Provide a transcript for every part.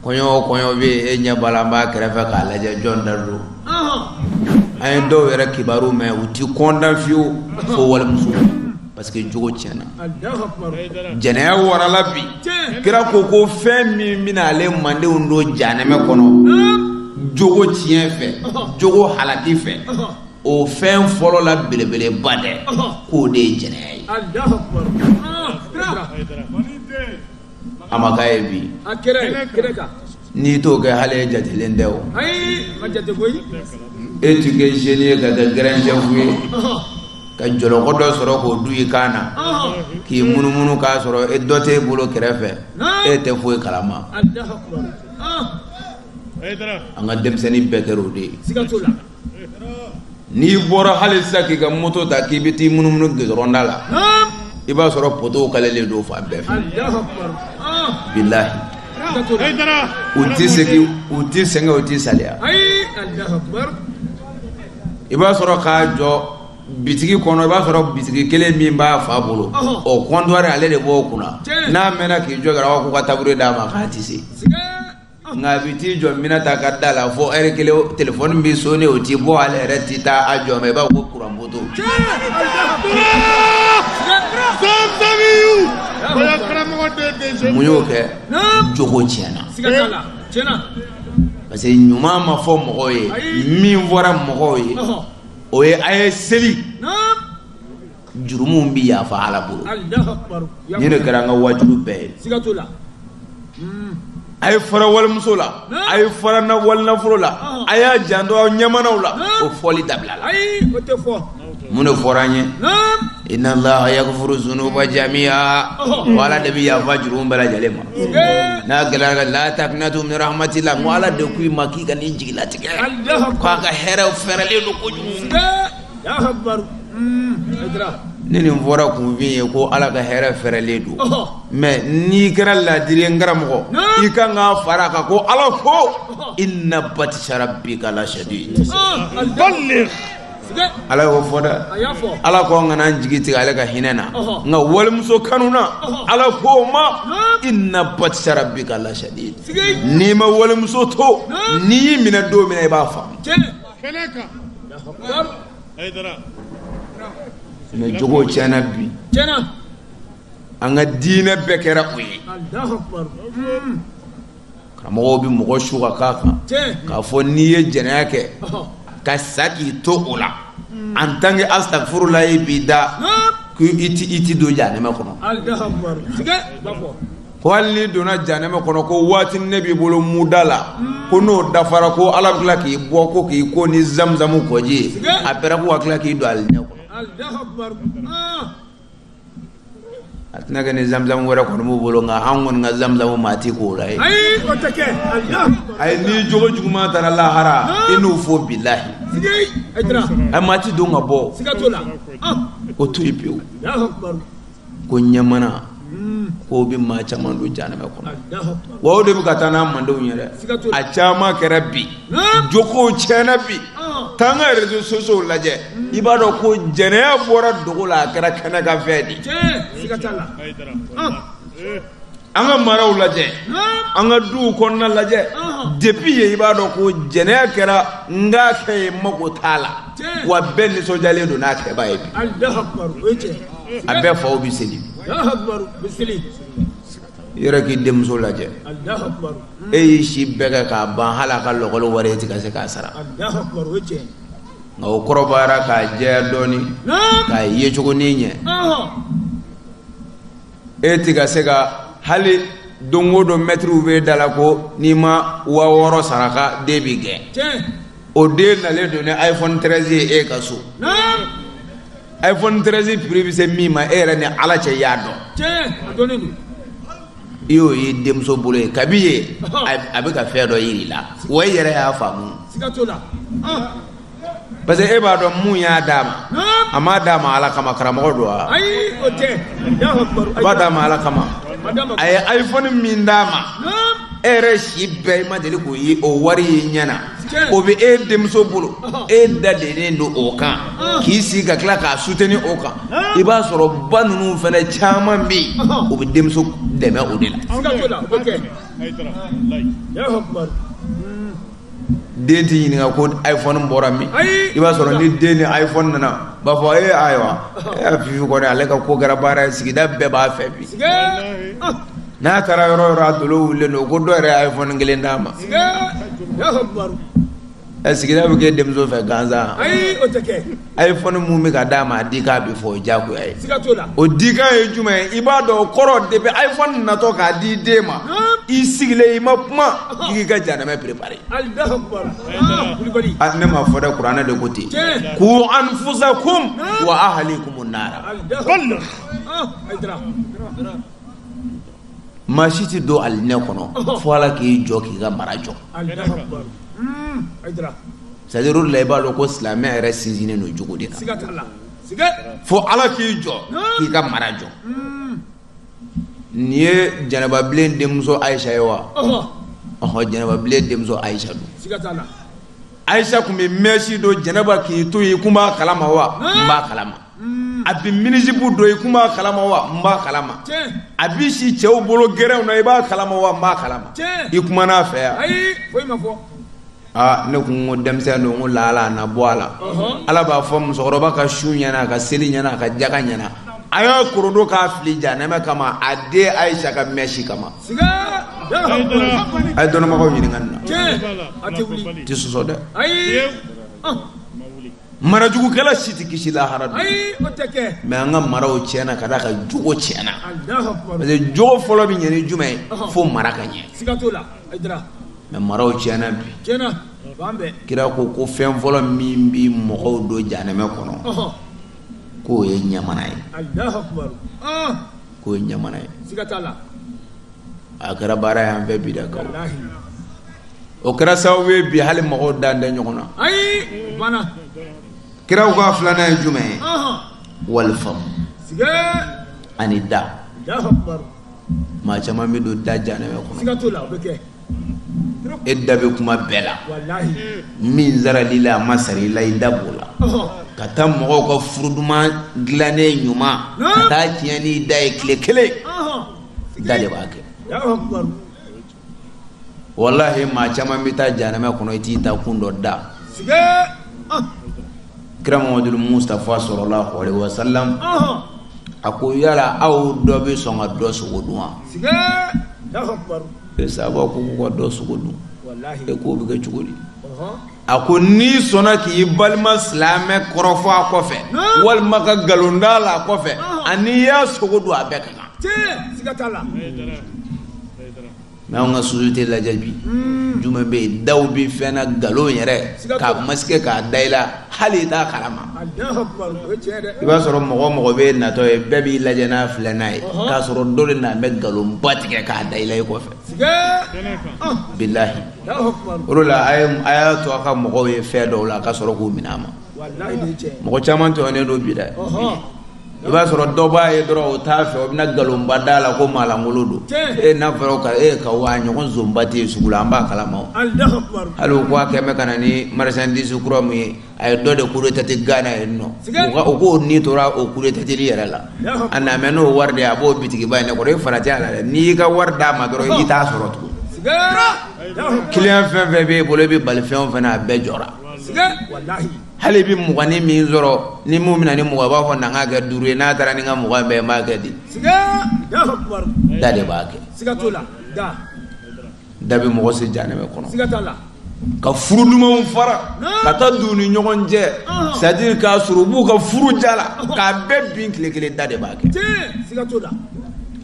kɔɲɔ o kɔɲɔ bi e ɲɛ b'a la n b'a kɛrɛfɛ k'a lajɛ jɔn da don an ye dɔw yɛrɛ kibaru mɛn u ti kɔntan fiyewu fo walimuso parce que jogo tiɲɛna jɛnɛya warala bi kira ko ko fɛn min bɛna ale mandenw don janɛmɛ kɔnɔ jogo tiɲɛ fɛ jogo halaki fɛ o fɛn fɔlɔ la belebeleba dɛ k'o de ye jɛnɛya ye a ma k'a ye bi a kɛra ye kɛra kan n'i t'o kɛ hali e jatelen tɛ o ayi i ma jate koyi e ti kɛ jeune ye ka kɛ grand chef ye ka jɔlɔkɔ dɔ sɔrɔ k'o don i kan na k'i munumunu k'a sɔrɔ e dɔ t'e bolo kɛrɛfɛ e tɛ foyi kalama an ka denmisɛnnin bɛɛ kɛra o de ye n'i bɔra hali sisan k'i ka moto ta k'i bɛ t'i munumunu goudron da la i b'a sɔrɔ poteau kalelen don fan bɛɛ fɛ bilahi u tɛ segin u tɛ sɛgɛn u tɛ saliya i b'a sɔrɔ k'a jɔ bitigi kɔnɔ i b'a sɔrɔ bitigi kelen min b'a fa bolo o comptoir ale de b'o kunna n'a mɛnna k'i jɔ a kɛra ko ka tabouret d'a ma k'a tɛ se. nka a bɛ t'i jɔ Minata ka da la fo ɛri kelen telefɔni bɛ sonne o ti bɔ ale yɛrɛ ti taa a jɔ ma i b'a fɔ ko kuran poteau. mun y'o kɛ jogo tiɲɛna parce que ɲuman ma fɔ mɔgɔw ye min fɔra mɔgɔw ye o ye a ye seli. jurumu bɛ yafa Ala bolo nin de kɛra an ka waajuli bɛɛ ye, siga t'o la, a ye fara walimuso la, a ye fara walinafolo la, a y'a janto aw ɲɛmanaw la, o fɔli dabilala, ayi o tɛ fɔ, mun de fɔra an ye, naamu, inna Allaha yagifiru zunuba jamiya ko Ala de bɛ yafa jurumu bɛɛ lajɛlen ma, n'a gɛlɛyara ka laa takunatu min rahamatila ko Ala de k'i ma k'i kana i jigilatigɛ k'a ka hɛrɛ fɛrɛlen don kojugu ni nin fɔra kunfin ye ko ala ka hɛrɛ fɛrɛlen don mais n'i kɛra laadiri n karamɔgɔ i kan k'a fara a kan ko ala ko inna batisa rabika lasadidi ala y'o fɔ dɛ ala ko an kana an jigi tigɛ ale ka hinɛ na nka walimuso kanuna ala k'o ma inna batisa rabika lasadidi n'i ma walimuso to ni n y'i minɛ don min na i b'a faamu kɛnɛ kan Hayidara mɛ jogow tiɲɛna bi tiɲɛna an ka diinɛ bɛɛ kɛra o ye karamɔgɔw bɛ mɔgɔ su ka k'a kan k'a fɔ n'i ye jɛnɛya kɛ ka sa k'i to o la en tant que astafurulayi b'i da ko i ti don janɛmɛ kɔnɔ ko hali n'i donna janɛmɛ kɔnɔ ko waati ne b'i bolo muda la ko n'o dafara ko ala bɛ tila k'i bɔ ko k'i ko ni zamuzamu kɔji ye après ko a ka tila k'i don alijinɛ kɔnɔ a tɛna kɛ ni zamuzamu wɛrɛ kɔni b'u bolo nka an kɔni ka zamuzamu maa ti ko o la yen ayi n'i jogo juguman taara lahara i n'u fo bilahi a maa ti don ka bɔ o to yen pewu ko ɲɛmana k'o bɛ maa caman don janɛmɛ kɔnɔ wa o de bɛ ka taa n'a mandenw ye dɛ a caman kɛra bi jogow tiɲɛna bi taa an ka réseaux sociaux lajɛ i b'a dɔn ko jɛnɛya bɔra dogo la a kɛra kɛnɛ kan fɛn de ye an ka maraw lajɛ an ka duw kɔnɔna lajɛ depuis yen i b'a dɔn ko jɛnɛya kɛra n k'a kɛ ye mago t'a la wa bɛɛ nisɔndiyalen don n'a kɛba ye bi a bɛɛ faw bɛ seli yɔrɔ k'i denmuso lajɛ e y'i si bɛɛ kɛ k'a ban hali a ka lakɔli wari e ti ka se k'a sara nka o kɔrɔbayara k'a jɛya dɔɔnin k'a yecogo nin ɲɛ e ti ka se ka hali don o don mɛtiriw bɛ da la ko n'i ma waa wɔɔrɔ sara ko den bi gɛn o den nalen don ni iphone 13 ye e ka so iphone 13 prix bɛ se min ma e yɛrɛ ni ala cɛ y'a dɔn i y'o ye denmuso bolo yen kabi yen a bɛ ka fɛn dɔ yiri la wa i yɛrɛ y'a faamu parce que e b'a dɔn mun y'a d'a ma a m'a d'a ma ala kama karamɔgɔ don wa a b'a d'a ma ala kama a ye iphone min d'a ma e yɛrɛ si bɛɛ i ma deli k'o ye o wari ye ɲɛ na o bɛ e denmuso bolo e dadennen don o kan k'i sigi ka tila k'a soutenir o kan i b'a sɔrɔ ba ninnu fana caman bɛ yen o bɛ denmuso dɛmɛ o de la. den tɛ ɲininka ko iphone bɔra min i b'a sɔrɔ ni den ni iphone nana b'a fɔ ee ayiwa ee fifi kɔni ale ka ko kɛra baara ye sigida bɛɛ b'a fɛ bi n'a taara yɔrɔ yɔrɔ a dolo wulilen don ko dɔ yɛrɛ ye iphone kelen d'a ma sigida bɛ kɛ denmuso fɛ gansan iphone mun bɛ ka d'a ma a dikan bɛ fɔ o ye diyagoya ye o dikan ye jumɛn ye i b'a dɔn o kɔrɔ depuis iphone natɔ k'a di den ma i sigilen i ma kuma i k'i ka janɛmɛ préparer ah, ne ma fɔ dɛ kuranɛ de ko ten ku anfusakum wa ahlikum nara maa si tɛ don alijinɛ kɔnɔ fo ala k'i jɔ k'i ka mara jɔ hmm, C'est-à-dire o de la i b'a dɔn ko silamɛya yɛrɛ sinsinnen don jogo de kan fo ala k'i jɔ k'i ka mara jɔ nin ye jɛnɛbabilen denmuso ayisa ye wa ɔ jɛnɛbabilen denmuso ayisa don ayisa tun bɛ mɛsi don jɛnɛba k'i to yen i kun b'a kalama wa n b'a kalama a bɛ minisibu don i kun b'a kalama wa n b'a kalama a bɛ si cɛw bolo gɛrɛnw na i b'a kalama wa n b'a kalama i kumana a fɛ yan aa ne kun ko denmisɛn don ko laala a na bɔ a la ala b'a fɔ musokɔrɔba ka sun ɲɛna a ka seli ɲɛna a ka jaga ɲɛna a y'a korodo k'a fili janɛmɛ kama a den ayisa ka mɛsi kama a ye dɔnnibagaw ɲininka nin na tɛ sɔsɔ dɛ marajugukɛla si tɛ kisi lahara don mais an ka maraw tiɲɛna ka d'a kan jogo tiɲɛna parce que jogo fɔlɔ bɛ ɲɛ ni jumɛn ye fo mara ka ɲɛ mais maraw tiɲɛna bi kira ko ko fɛn fɔlɔ min bɛ mɔgɔw don janɛmɛ kɔnɔ k'o ye ɲamana ye k'o ye ɲamana ye a kɛra baara y'an fɛ bi da kaw o kɛra sababu ye bi hali mɔgɔw dan tɛ ɲɔgɔn na ayi bana kira ko a filanan ye jumɛn ye walifamu ani da maa caman bɛ don da janɛmɛ kɔnɔ e da bɛ kuma bɛɛ la min sarala i la a ma sara i la i da b'o la ka taa mɔgɔw ka furu duman dilannen ɲuman ka taa tiɲɛ n'i da ye tile kelen da de b'a kɛ walahi maa caman bɛ taa janɛmɛ kɔnɔ i t'i taakun dɔn dɛ kira mamadu mustafa salalahu alayhi wasalam a ko yala aw dɔ bɛ sɔn ka dɔ sogo dun wa e sahabaw ko k'u ka dɔ sogo dun e k'o bɛ kɛ cogo di a ko n'i sɔnna k'i balima silamɛ kɔrɔfɔ a kɔfɛ walima ka nkalon d'a la a kɔfɛ ani i y'a sogo dun a bɛɛ ka kan mais anw ka société lajɛ bi hmm. jumɛn bɛ yen dɔw bɛ fɛn na nkalon yɛrɛ k'a masquer k'a da i la hali i t'a kalama i b'a sɔrɔ mɔgɔ o mɔgɔ b'e natɔ ye bɛɛ b'i lajɛ n'a filɛ n'a ye k'a sɔrɔ dɔ de na bɛ nkalonba tigɛ k'a da i la i kɔfɛ bilahi o de la a y'a to a ka mɔgɔw ye fɛn dɔw la a ka sɔrɔ k'u minɛ a ma mɔgɔ caman tɔɲɔnnen don bi dɛ i b'a sɔrɔ dɔ b'a ye dɔrɔn o t'a fɛ o bɛna nkalonba d'a la ko maalankolon don e n'a fɔra ko e k'awa ɲɔgɔn zonba tɛ yen sugu la an b'a kalama o hali o ko a kɛ mɛ ka na ni marchandise kura min ye a ye dɔ de kudetate gana yen nɔ o k'o ni tora o kudetateli yɛrɛ la a na mɛ n'o wari de a b'o bitigiba ye ne kɔrɔ i farati a la dɛ n'i y'i ka wari d'a ma dɔrɔn i t'a sɔrɔ tugun kiliyan fɛn fɛn b'e bolo e bɛ bali fɛn o fɛn na a bɛɛ jɔra hali i bɛ muganin min sɔrɔ ni mun bɛna ni mugan i b'a fɔ na n k'a kɛ duuru ye n'a taara ni n ka mugan bɛɛ n b'a kɛ di da de b'a kɛ da bɛ mɔgɔ se janɛmɛ kɔnɔ ka furu dumanw fara ka taa don ni ɲɔgɔn cɛ c'est à dire k'a sɔrɔ u b'u ka furu diya la k'a bɛɛ bin tile kelen da de b'a kɛ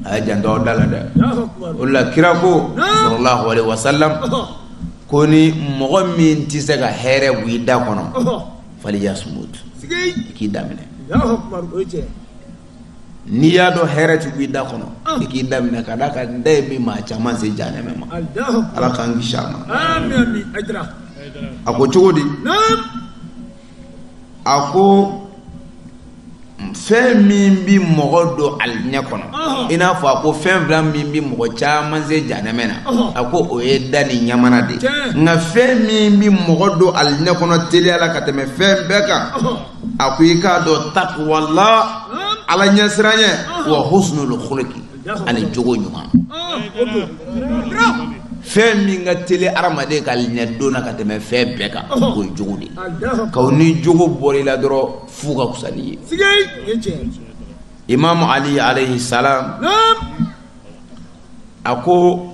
a ye janto aw da la dɛ o la kira ko sallallahu alaihi wasallam ko ni mɔgɔ min tɛ se ka hɛrɛ b'i da kɔnɔ falyasmut i k'i da minɛ n'i y'a dɔn hɛrɛ tɛ b'i da kɔnɔ i k'i da minɛ ka d'a kan da bɛ maa caman se janɛmɛ ma ala k'an kisi a ma a ko cogo di a ko fɛn min bɛ mɔgɔ don alijinɛ kɔnɔ i n'a fɔ a ko fɛn fila min bɛ mɔgɔ caman se janɛmɛ na a ko o ye da ni ɲamana de ye nka fɛn min bɛ mɔgɔ don alijinɛ kɔnɔ teliya la ka tɛmɛ fɛn bɛɛ kan a ko i k'a dɔn taqwallah ala ɲɛsiranyɛ wa husnul khuluqi ani jogo ɲuman fɛn min ka teli adamaden ka alijinɛ don na ka tɛmɛ fɛn bɛɛ kan o ye jogo de ye kaw ni jogo bɔra i la dɔrɔn fu ka fisa n'i ye imamu ali alayhi salam a ko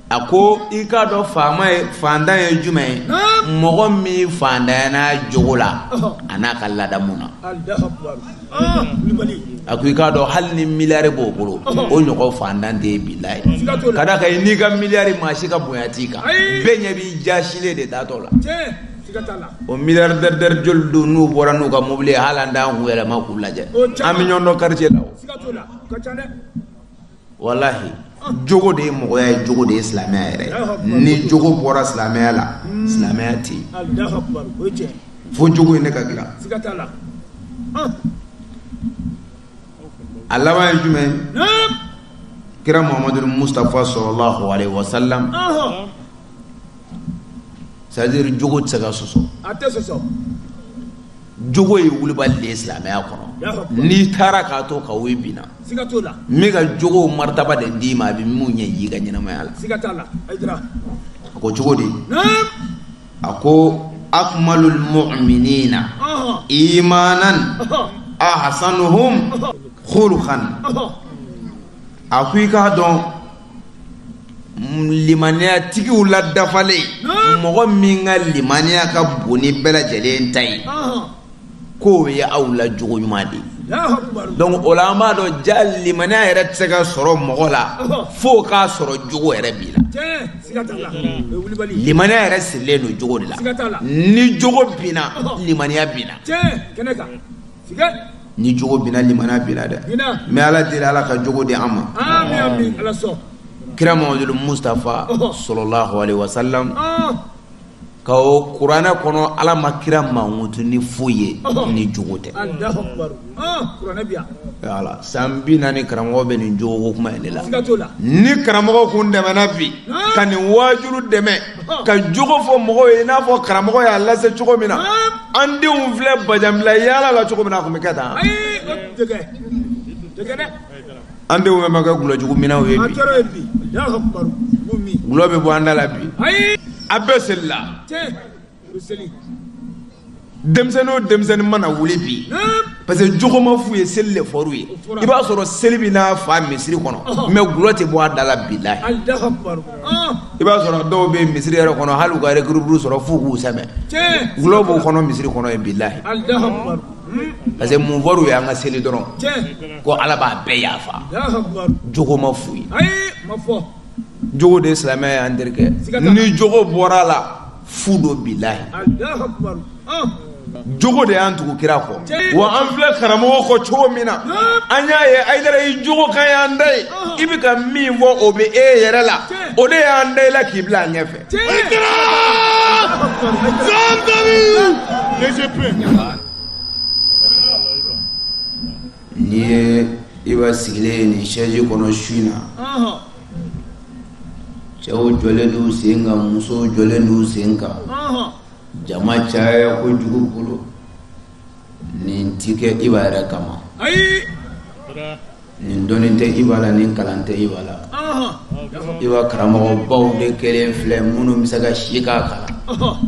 a ko i k'a dɔn faama ye faantan ye jumɛn ye mɔgɔ min faantanyana jogo la an'a ka ladamu na a ko i k'a dɔn hali ni miliyari b'o bolo o ɲɔgɔn faantan tɛ yen bilahi ka d'a kan i n'i ka miliyari maa si ka bonya t'i kan bɛɛ ɲɛ b'i jaasilen de taatɔ la o miliyari dɛridɛri joli don n'u bɔra n'u ka mobili ye hali an t'an kun yɛlɛma k'u lajɛ an bɛ ɲɔgɔn dɔn kartiye la o. walahi jogo de ye mɔgɔya ye jogo de ye silamɛya yɛrɛ ni jogo bɔra silamɛya la hmm. silamɛya tɛ yen fo jogo ye ne ka dilan a laban ye jumɛn kira muhammadu mustafa sallallahu alayhi wa sallam c'est à dire jogo tɛ se ka sɔsɔ jogo ye wulibali de ye silamɛya kɔnɔ n'i taara k'a to ka woyi binna n bɛ ka jogo maritaba de d'i ma a bɛ mun ɲɛ y'i ka ɲɛnamaya la a ko cogo di a ko akmalul mu'minina imanan ahsanuhum khuluqan a ko i k'a dɔn limaniyatigiw la dafalen mɔgɔ min ka limaniya ka bon ni bɛɛ lajɛlen ta ye k'o ye aw la jogo ɲuman de donc o la an b'a dɔn ja limaniya yɛrɛ tɛ se ka sɔrɔ mɔgɔ la f'o k'a sɔrɔ jogo yɛrɛ b'i la limaniya yɛrɛ sirilen don jogo de la ni jogo binna limaniya binna ni jogo binna limaniya binna dɛ mais ala deli ala ka jogo di an ma kira muhamadu mustafa sallallahu alaihi wasallam ka o kuranɛ kɔnɔ ala ma kira mankutu ni foyi ye ni jogo tɛ o la san bi naani karamɔgɔ bɛ nin jogo kuma in de la ni karamɔgɔ kun dɛmɛna bi ka nin waajulu dɛmɛ ka jogo fɔ mɔgɔw ye i n'a fɔ karamɔgɔ y'a lase cogo min na an denw filɛ bajanbila yaala la cogo min na a kun bɛ kɛ tan an denw bɛɛ ma kɛ gulɔjugu minnaw ye bi gulɔ bɛ bɔ an da la bi a bɛɛ selila denmisɛnnin o denmisɛnnin mana wuli bi parce que jogo ma f'u ye seli le fɔr'u ye i b'a sɔrɔ seli bɛ n'a fa misiri kɔnɔ mais gulɔ tɛ bɔ a da la bilayi i b'a sɔrɔ dɔw bɛ misiri yɛrɛ kɔnɔ hali u ka l'équilibre sɔrɔ f'u k'u sɛmɛ gulɔ b'u kɔnɔ misiri kɔnɔ yen bilayi parce que mun fɔr'u ye an ka seli dɔrɔn ko ala b'a bɛɛ yafa jogo ma f'u ye jogo de ye silamɛya y'an terikɛ ni jogo bɔra a la fu don bilayi jogo de y'an tugu kira kɔ wa an filɛ karamɔgɔ kɔ cogo min na an y'a ye ayidara i jogo kan y'an da ye i bɛ ka min fɔ o bɛ e yɛrɛ la o de y'an da i la k'i bila an ɲɛfɛ. N'i ye Iba sigilen ye nin sɛji kɔnɔ su in na cɛw jɔlen d'u sen kan musow jɔlen d'u sen kan jama caya kojugu bolo nin ti kɛ Iba yɛrɛ kama nin dɔnni tɛ Iba la nin kalan tɛ Iba la Iba karamɔgɔbaw de kelen filɛ minnu bɛ se ka si k'a kalan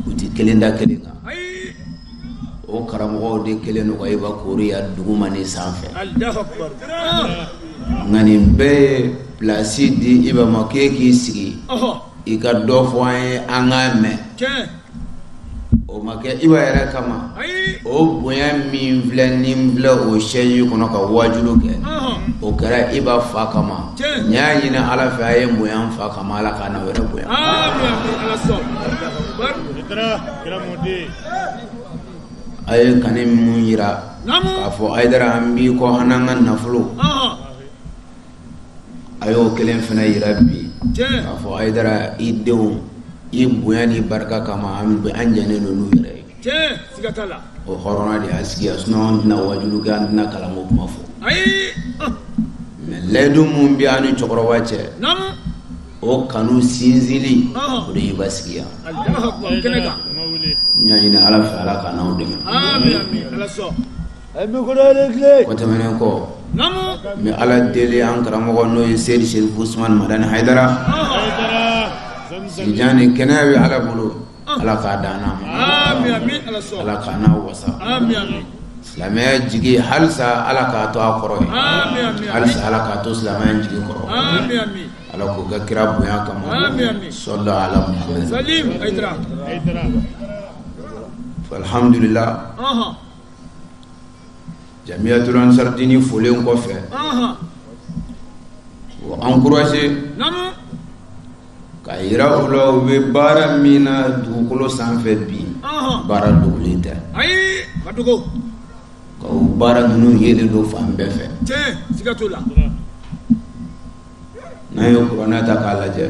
u tɛ kelen da kelen kan o karamɔgɔw de kɛlen don ka Iba koori yan duguma ni sanfɛ nka nin bɛɛ ye pilasi di Iba ma k'e k'i sigi i ka dɔ fɔ an ye an k'a mɛn o ma kɛ Iba yɛrɛ kama o bonya min filɛ ni n filɛ o sɛji kɔnɔ ka waajulu kɛ o kɛra Iba fa kama n y'a ɲini ala fɛ a ye n bonya n fa kama ala ka n'aw yɛrɛ bonya a ye kanu min jira k'a fɔ hayidara an b'i kɔ an n'an ka nafolo a y'o kelen fana jira bi k'a fɔ hayidara i denw i bonya ni barika kama an jɛnen don n'u yɛrɛ ye o hɔrɔnya de y'an sigi yan sinɔn an tɛna wajulu kɛ an tɛna kalanko kuma fɔ mɛ layidu min bɛ an ni cɛkɔrɔba cɛ o kanu sinsinli o de basigiya ɲaɲini ala fɛ ala ka n'aw dɛmɛ o tɛmɛnen kɔ n bɛ ala deli an karamɔgɔ n'o ye seyidi serifu usumani madani hayidara sijan ni kɛnɛya bɛ ala bolo ala k'a d'an n'a ma ala k'an n'a wasa silamɛya jigi halisa ala k'a to an kɔrɔ halisa ala k'a to silamɛya jigi kɔrɔ ala k'o kɛ kira bonya kama sallallahu ala alhamdulila jamiyatul ansar diini folen kɔfɛ o ankuraje k'a yira u la u bɛ baara min na dugukolo sanfɛ bi baara dogolen tɛ ka o baara ninnu yelen don fan bɛɛ fɛ n'a ye kuranɛ ta k'a lajɛ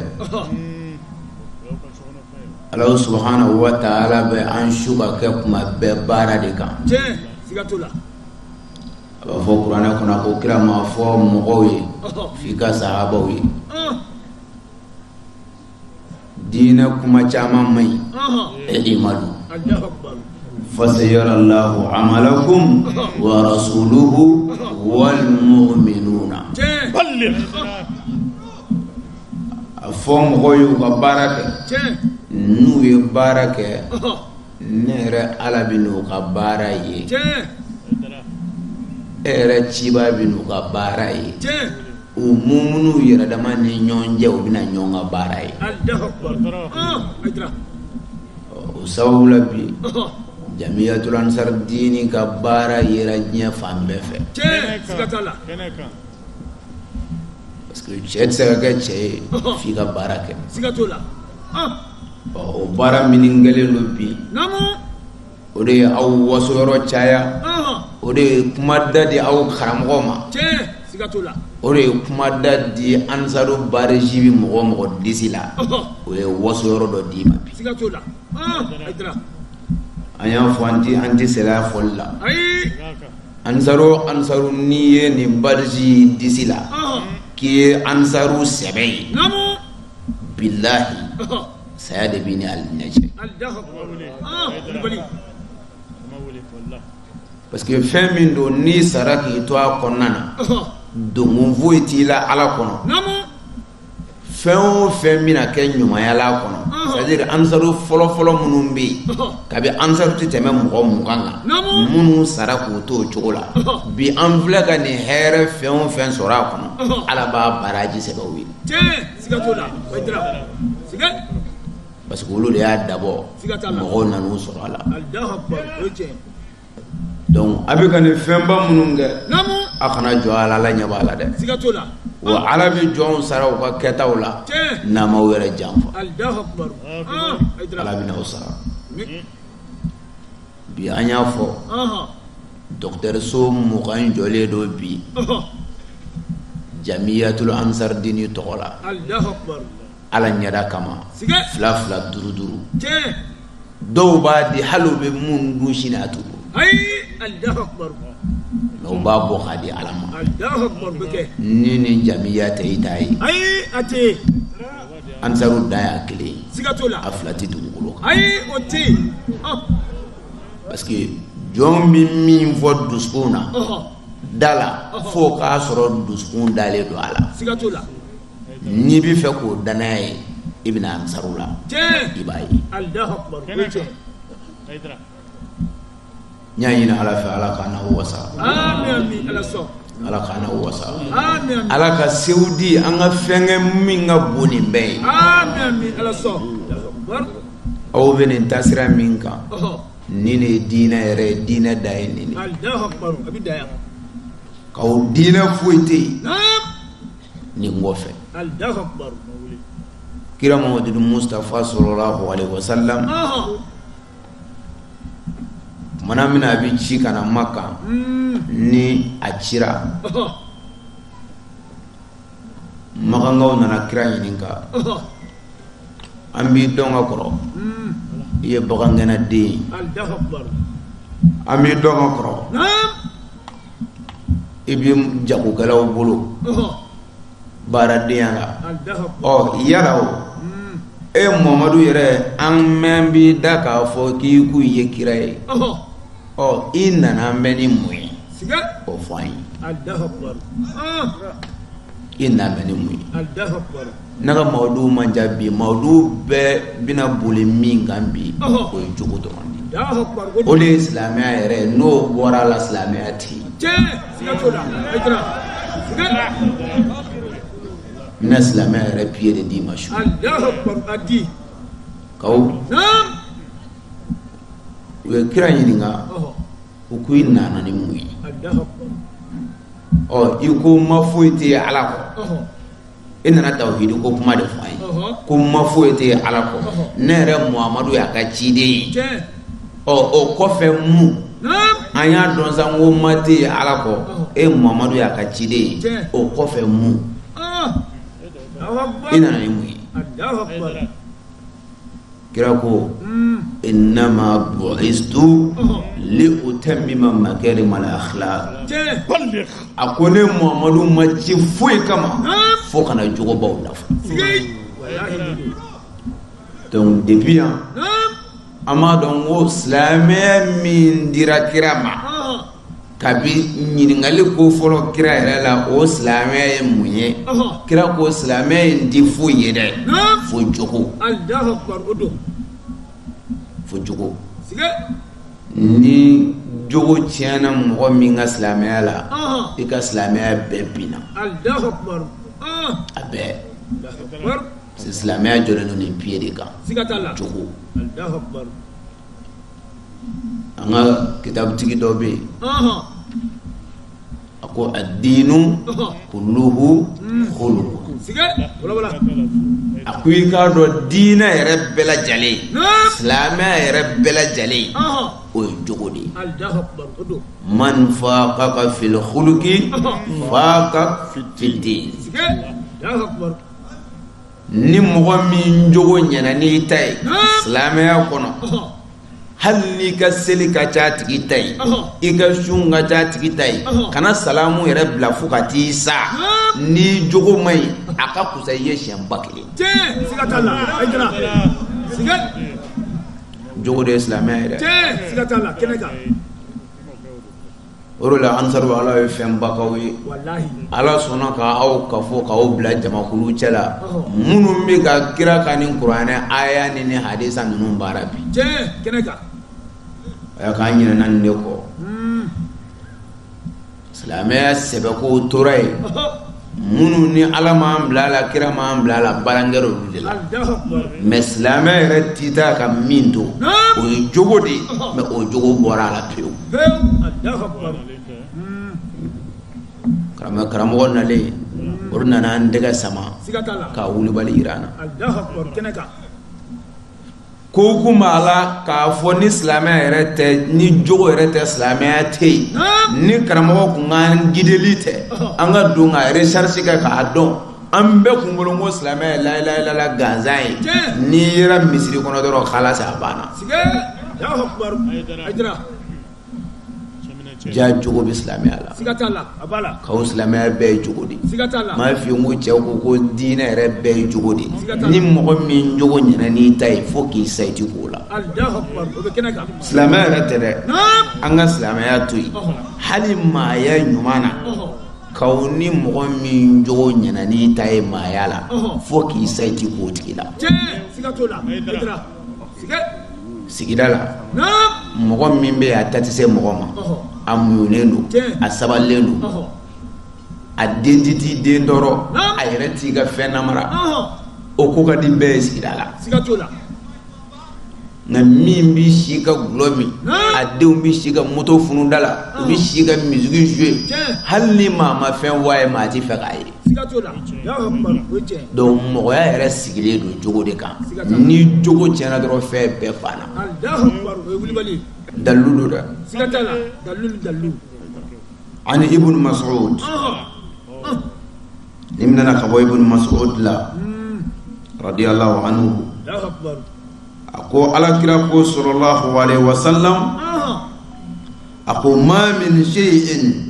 ala subhanahu wa taala bɛ an su ka kɛ kuma bɛɛ baara de kan a b'a fɔ kuranɛ kɔnɔ ko kira ma a fɔ mɔgɔw ye f'i ka sahabaw ye diinɛ kuma caman man ɲi i'malu fasayarallahu amalakum wa rasuluhu wal mu'minuna a fɔ mɔgɔw ye u ka baara kɛ n'u ye baara kɛ ne yɛrɛ ala bɛn'u ka baara ye e yɛrɛ ciba bɛn'u ka baara ye o muminuw yɛrɛ dama ni ɲɔgɔn cɛ u bɛna ɲɔgɔn ka baara ye o sababu la bi jamiyatul ansar diini ka baara yera diɲɛ fan bɛɛ fɛ parce que cɛ tɛ se ka kɛ cɛ ye f'i ka baara kɛ o baara minnu kɛlen don bi o de ye aw waso yɔrɔ caya o de ye kuma da di aw karamɔgɔ ma o de ye kuma da di ansaru bariji bi mɔgɔ o mɔgɔ disi la o ye waso yɔrɔ dɔ d'i ma bi an y'a fɔ an ti an ti sɛlaya fɔli la ansaru o ansaru n'i ye nin bariji disi la k'i ye ansaru sɛbɛ ye bilahi saya de b'i ni alijinɛ cɛ parce que fɛn min don n'i sara k'i to a kɔnɔna na donc foyi t'i la ala kɔnɔ fɛn o fɛn bɛna kɛ ɲumanya la a kɔnɔ c'est à dire ansaru fɔlɔfɔlɔ minnu bɛ yen kabi ansaru tɛ tɛmɛ mɔgɔ mugan kan minnu sara k'u to o cogo la bi an filɛ ka nin hɛrɛ fɛn o fɛn sɔrɔ a kɔnɔ ala b'a baraji sɛbɛn u ye. Parce que olu de y'a dabɔ mɔgɔw nan'u sɔrɔ a la donc a bɛ ka nin fɛnba minnu kɛ a kana jɔ a la ala ɲɛ b'a la dɛ wa ala bɛ jɔnw sara u ka kɛtaw la n'a m'aw yɛrɛ janfa ala bɛn'aw sara bi an y'a fɔ dɔgɔtɔrɔso mugan jɔlen don bi jamiyatul ansardini tɔgɔ la ala ɲɛda kama fila fila duuru duuru dɔw b'a di hali u bɛ min dun sini a t'u kun mais u b'a bɔ k'a di ala ma ni nin jamiya tɛ i t'a ye ansaru dan y'a kelen ye siga t'o la a fila tɛ dugukolo kan ayi o tɛ yen ɔn parce que jɔn bɛ min fɔ dusukun na ɔhɔ da la f'o k'a sɔrɔ dusukun dalen don a la siga t'o la n'i bɛ fɛ k'o danaya ye i bɛ na ansaru la tiɲɛ i b'a ye alahu akubaru o ye tiɲɛ n y'a ɲini ala fɛ ala k'an n'aw wasa ala k'an n'aw wasa ala ka sew di an ka fɛn kɛ min ka bon nin bɛɛ ye aw bɛ nin taasira min kan nin de ye diinɛ yɛrɛ ye diinɛ dan ye nin de k'aw diinɛ foyi tɛ yen nin kɔfɛ kira mamadu mustapha salalahu alɛyihi wasalam Tuma min na a bɛ ci ka na makan ni a cira makankaw nana kira ɲininka an b'i dɔn ka kɔrɔ i ye bagangɛnna de ye an b'i dɔn ka kɔrɔ i bɛ jagokɛlaw bolo baaradenya la ɔ yala o e mamadu yɛrɛ an mɛn bi da k'a fɔ k'i ko i ye kira ye ɔ i nana an bɛn ni mun ye o fɔ an ye i nana an bɛn ni mun ye ne ka mawudu man ca bi mawudu bɛɛ bɛna boli min kan bi o ye jogo dɔrɔn de ye o de ye silamɛya yɛrɛ ye n'o bɔra a la silamɛya tɛ yen. n bɛna silamɛya yɛrɛ piye de d'i ma su kaw u ye kira ɲininka u ko i nana ni mun ye ɔ i ko ma foyi tɛ yen ala kɔ e nana tawhidi ko kuma de fɔ an ye ko ma foyi tɛ ala kɔ ne yɛrɛ muhamadu y'a ka ciden ye ɔ o kɔfɛ mun an y'a dɔn sa ko ma tɛ ala kɔ e muhamadu y'a ka ciden ye o kɔfɛ mun i nana ni mun ye kira ko innama bu'istu li utammima makarim al akhlaq a ko ne muhammadu ma ci foyi kama fo ka na jogobaw dafa donc depuis yan an b'a dɔn ko silamɛya min dira kira ma kabi ɲininkali ko fɔlɔ kira yɛrɛ la o silamɛya ye mun ye kira ko silamɛya in tɛ foyi ye dɛ fo jogo fo jogo ni jogo tiɲɛna mɔgɔ min ka silamɛya la i ka silamɛya bɛɛ binna a bɛɛ silamɛya jɔlen don nin piye de kan jogo an ka kitabutigi dɔ bɛ yen a ko ad-dinu kulluhu khuluq a ko i k'a dɔn diinɛ yɛrɛ bɛɛ lajɛlen silamɛya yɛrɛ bɛɛ lajɛlen o ye jogo de ye man faqaka fil khuluqi faqa fid din ni mɔgɔ min jogo ɲɛna n'i ta ye silamɛya kɔnɔ hali n'i ka seli ka ca a tigi ta ye i ka sun ka ca a tigi ta ye kana salamu yɛrɛ bila fo ka t'i sa n'i jogo man ɲi a ka kusa i ye siɲɛ ba kelen jogo de ye silamɛya ye dɛ o de la ansaru ala ye fɛnba k'aw ye ala sɔnna ka aw kafo k'aw bila jamakulu cɛ la minnu bɛ ka kira kan ni kuranɛ aya ni ni hadisa ninnu baara bi a y'a k'an ɲinɛna nin de kɔ hmm. silamɛya sɛbɛko tora yen minnu ni ala m'an bila a la kira m'an bila a la barankɛra olu de la mais silamɛya yɛrɛ tɛ taa ka min to o ye jogo de ye mais o jogo bɔra a la pewu karamɔgɔ karamɔgɔ nalen olu nana an tɛgɛ sama ka wulibali jira an na ko kun b'a la k'a fɔ ni silamɛya yɛrɛ tɛ ni jogo yɛrɛ tɛ silamɛya tɛ yen ni karamɔgɔ kun ka gideli tɛ an ka don ka recherche kɛ k'a dɔn an bɛɛ kun bolo ko silamɛya ye la ilaha illallah gansan ye n'i yera misiri kɔnɔ dɔrɔn khalas a banna ja jogo bɛ silamɛya la siga t'a la a b'a la k'aw silamɛya bɛɛ ye jogo de ye siga t'a la m'a f'i ye n ko cɛw ko ko diinɛ yɛrɛ bɛɛ ye jogo de ye ni mɔgɔ min jogo ɲɛna n'i ta ye fo k'i sa i ti k'o la silamɛya yɛrɛ tɛ dɛ an ka silamɛya to yen hali maaya ɲuman na k'aw ni mɔgɔ min jogo ɲɛna n'i ta ye maaya la fo k'i sa i ti k'o tigi la sigida la mɔgɔ min bɛ a ta tɛ se mɔgɔ ma a muɲunen don a sabalilen don a den ti t'i den tɔɔrɔ a yɛrɛ t'i ka fɛn namara o ko ka di bɛɛ ye sigida la nka min bɛ si ka gulɔ min a denw bɛ si ka moto funu da la u bɛ si ka misiki jouer hali ni maa ma fɛn fɔ a ye maa tɛ fɛ k'a ye donc mɔgɔya yɛrɛ sigilen don jogo de kan ni jogo tiɲɛna dɔrɔn fɛn bɛɛ banna dalilu don dɛ an ibn mas'ud ni min nana ka bɔ ibn mas'ud la hmm. radiyallahu anhu a ko alakira ko sallallahu alaihi wasallam a ko ma min shay'in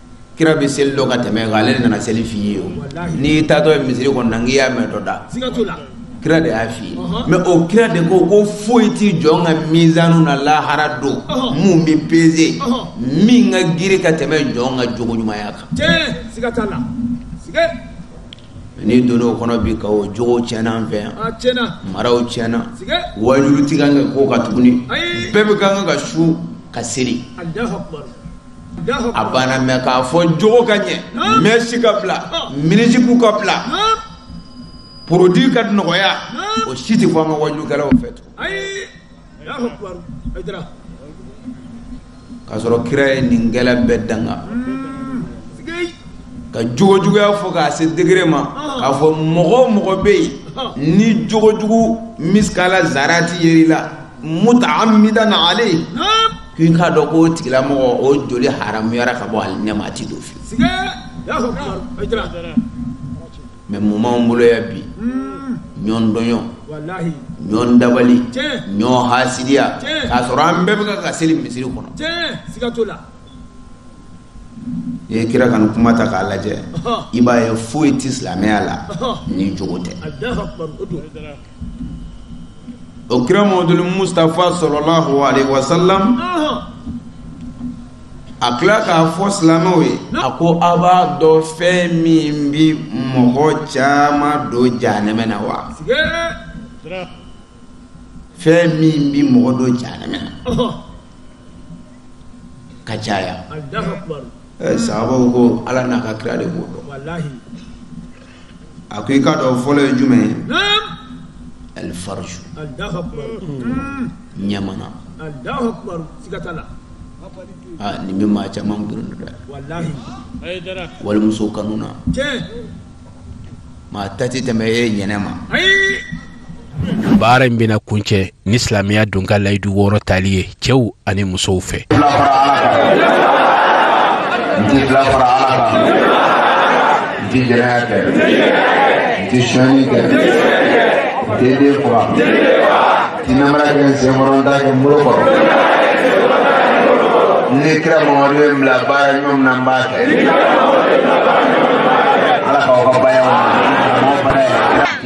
kira bɛ seli dɔn ka tɛm'i kan ale de nana seli f'i ye o n'i taatɔ ye misiri kɔnɔ na n'i y'a mɛn dɔ da kira de y'a f'i ye mɛ o kira de ko ko foyi ti jɔn ka mizanu na lahara don min bɛ peze min ka giri ka tɛmɛ jɔn ka jogo ɲumanya kan n'i donna o kɔnɔ bi ka o jogo tiɲɛna an fɛ yan maraw tiɲɛna wajulu ti kan ka k'o kan tuguni bɛɛ bɛ kan ka sun ka seli a banna mɛ k'a fɔ jogo ka ɲɛ mèche ka bila mini-jupe ka bila produit ka nɔgɔya o si tɛ fɔ an ka wajukɛlaw fɛ tugun k'a sɔrɔ kira ye nin kɛla bɛɛ danga ka jogojuguya fɔ k'a se degré ma k'a fɔ mɔgɔ o mɔgɔ bɛ yen ni jogojugu misikala zarati yer'i la muta'ammidan alayhi k'i k'a dɔn k'o tigilamɔgɔ o joli haramuyara ka bɔ alijinɛ ma a ti don fiyewu mɛ mun b'anw bolo yan bi ɲɔgɔn tɔɲɔ ɲɔgɔn dabali ɲɔgɔn hasidiya k'a sɔrɔ an bɛɛ bɛ ka seli misiri kɔnɔ i ye kira ka nin kuma ta k'a lajɛ i b'a ye foyi tɛ silamɛya la ni jogo tɛ o kira mɔduli mustapha salalahu alayhi wa sallam a tila k'a fɔ silamɛw ye a ko a b'a dɔn fɛn min bi mɔgɔ caman don jahanɛmɛ na wa fɛn min bi mɔgɔ don jahanɛmɛ na ka caya sababu ko ala n'a ka kira de b'o dɔn a ko i k'a dɔn fɔlɔ ye jumɛn ye alifaraju ɲamana aa nin bɛ maa caman girin dɛ walimuso kanu na maa ta tɛ tɛmɛ e ɲɛnɛma baara in bɛna kuncɛ ni silamɛya donkan layidu wɔɔrɔ tali ye cɛw ani musow fɛ ni kira mamadu ye bila baara ɲuman min na n b'a kɛ ala k'aw ka bayaw ma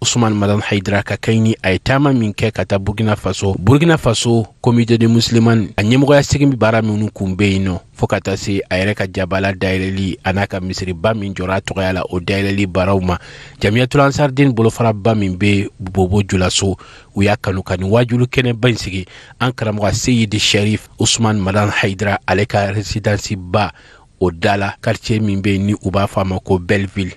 usman madan haidara ka kɛɲɛ ni a ye taama min kɛ ka taa burkina faso burkina faso komite de musiliman a ɲɛmɔgɔya sigili baara minnu kun be yen nɔ fo ka taa se a yɛrɛ ka jabala dayɛlɛli a n'a ka misiriba min jɔra a tɔgɔya la o dayɛlɛli baaraw ma jamiyatul ansariden bolofaraba min be bobo julaso u y'a kanu ka nin waajuli kɛnɛba in sigi an karamɔgɔ seyidi sharif usman madan haidara ale ka residansiba o da la karitiye min be ni u b'a fɔ a ma ko belleville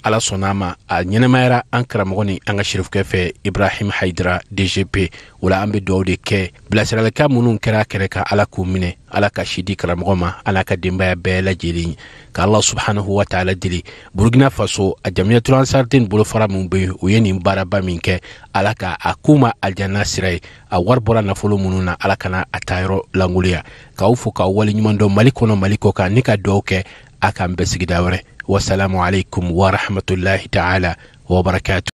ala sɔnna a ma a ɲɛnɛmayara an karamɔgɔ ni an ka sirifukɛ fɛ ibrahim haidara dgp o la an be duwaw de kɛ bilasiralikan minw kɛra kɛnɛ kan ala k'u minɛ ala ka si di karamɔgɔ ma a n'a ka denbaya bɛɛ lajɛlen ka allah subhanahu wa taala deli burukina faso a jamiyatu ansariden bolofara min be u ye nin baaraba min kɛ ala ka a k'u ma aljanna sira ye a wari bɔra nafolo minnu na ala kana a ta yɔrɔ lankolonya k'aw fo k'aw waleɲuman dɔn mali kɔnɔ mali kɔkan ni ka duwaw kɛ a k'an bɛn sigida wɛrɛ wasalamu aleykum warahmatulahi taala wabarakatu